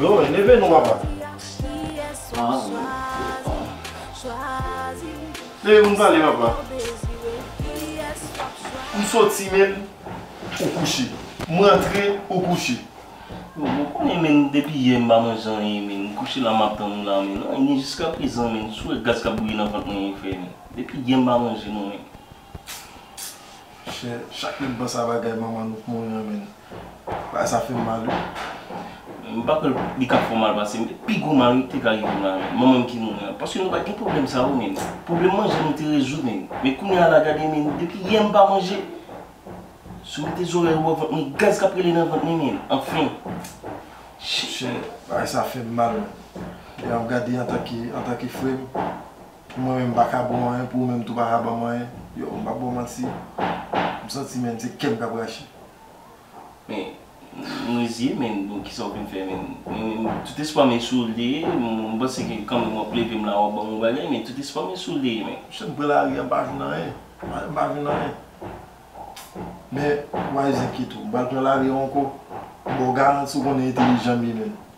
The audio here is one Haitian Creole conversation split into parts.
Yo, neve nou papa. Neve moun pale papa. M soti menm ou kouche. M rantre ou kouche. Yo, m konnen menm depi yè m pa manje anyen menm. M kouche la m ap tann ou la menm. Nan ni jiska prezan menm. Si w wè gaz k ap bouyi nan vant mwen yon fè menm. Depi yè m pa manje nou menm. Chè, chak lè m panse a bagay manman nou k mouri an menm. Bagay sa fem mal wi. M pa kwè li ka fè w mal pase pi gwo mal wi ki te ka rive m la wi. Manmanm ki mouri an. Paske nou pat gen pwoblèm sa yo menn. Pwoblèm manje nou te rezoud menn. Men kounya la gade menn depi yè m pa manje. Si w mete zorèy ou wè vant mwen gaz k ap rele nan vant mwen menn. Anfen. Chè bagay sa fè m mal. Lè m ap gade antanke frè m. Mwen menm m pa ka ba w anyen pou ou menm tou pa ka ban m anyen. Yow, m p ap ba w manti, m santi menn se kè m k ap rache. Men, m reziye menn, bon kisa w vle m fè menn? Men, tout espwa m e sou ou l te ye, m panse ke kanmenm w ap leve m la w ap ban m yon bagay men tout espwa m e sou ou l te ye menn. Chak m pran lari a m pa jwenn anyen, m pa jwenn anyen. Men, why zenkito, m pa al pran lari a ankò, m ba w garanti w konnen entelijan m ye menn.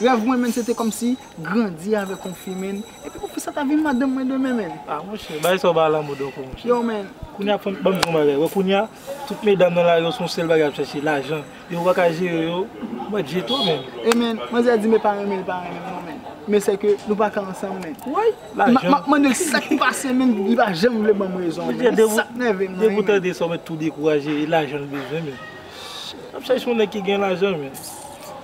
Rèv mwen menn se te kòmsi grandi avèk yon fi menn epi pou fi sa ta vin madanm mwen demen menn. Ah monchè bagay sa ou bay lanmou donk wi monchè. Yo menn. Kounya fanm banm di yon bagay wè kounya tout medam nan lari yo se yon sèl bagay yap chèche lajan yo paka jere yo mwen dye twò menn. E menn manzè di me pa renmen li pa renmen m non menn men se ke nou paka ansanm menn woy lajan map mandel sak pase menn li pa janm vle banm rezon an menn se sak nève m nan wi menn. Depi ou tande sa ou mèt tou dekouraje e lajan l bezwen menn lap chèche yon nèg ki gen lajan menn.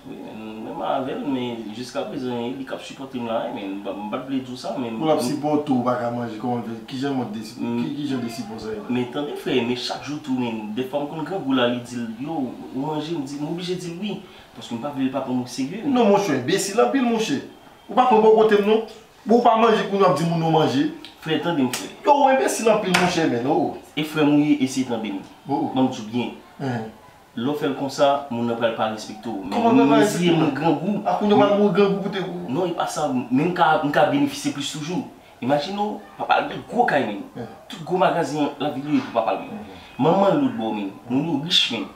Wi men mwen man avèl men jiska prezan li kap sipòtem la wi men m pat vle diw sa men. Pou lap sipòte w paka manje kòman l fè kijan mòd de kijan de sipò sa ye. Men tande frè men chak jou tou men dèfwa m konn grangou la li dil yo ou manje m di m oblije dil wi paske m pa vle l pa pranm o serye. Non monchè enbesil anpil monchè ou pa pran bò kote m non bon ou pa manje kounya wap di moun ou manje. Frè tande m frè. Yo ou enbesil anpil monchè men oo. E frè m ou ye eseye tande m banm di w byen. Lè w fè l konsa, moun nan pral pa respekte w. Men moun nan di e moun grangou. A kounye w pral mouri grangou pou te. Non e pa sa, men m ka benefisye plis toujou. Imajine w, papa l gen gwo kay men. Tout gwo magazen lavil yo e pou papa l men. Manman l lotbò men. Moun yo rich men.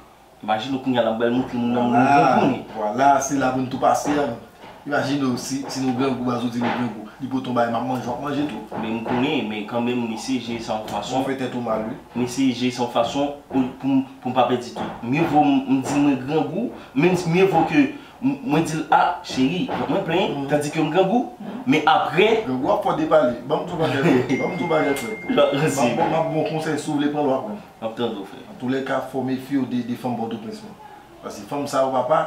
Imajine w kounye a l ap bal montre moun nan moun grangou men. Vwala, se la pou n tou pase an. Imajine w si si nou grangou baz ou di nou grangou li pot on bagay map manje wap manje tou. Men m konnen men kanmenm m eseye jere sa yon fason. Wap fè tèt ou mal wi. M eseye jere sa yon fason pou pou m pa pèdi tout. Mye vo m di mwen grangou men mye vo ke mwen di l a cheri mwen plen tandi ke m grangou men aprè. Grangou ap fò depale. Banm tou bagay frèm. Banm tou bagay frèm. Map ba w konsèy si w vle pran l wap pran. Map tande w frè. Antoulèka fò w mefye w de fanm pòtoprens mwen. Paske fanm sa yo papa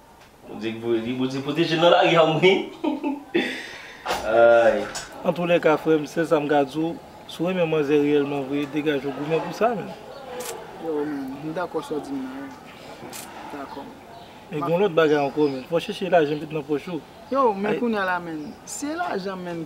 Bondye k voye li bondye pwoteje l nan lari a mwen ayy. Antoulèka frèm sèsam ka diw si w renmen manzè reyèlman vre degaje w goumen pou sa menn. Yow menn m dakò sa w dim nan wi m dakò m. Men gon lòt bagay ankò menn fò w chèche lajan met nan pòch ou. Yow men kounya la menn se lajan menn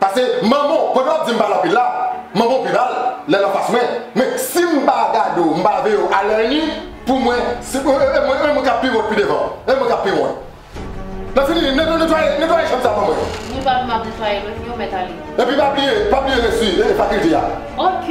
Pase manbo kote wap dim pale anpil la manbo pi mal lèl anfas mwen men sim pa gade w m pa veye w a lè ini pou mwen se e mwen kap pi wont pi devan e mwen kap pi wont nan fini netwaye netwaye chanm sa ban mwen. Nou pa vle map netwaye menm yo mèt ale. Epi pa bliye pa bliye resu fakilte a. Ok!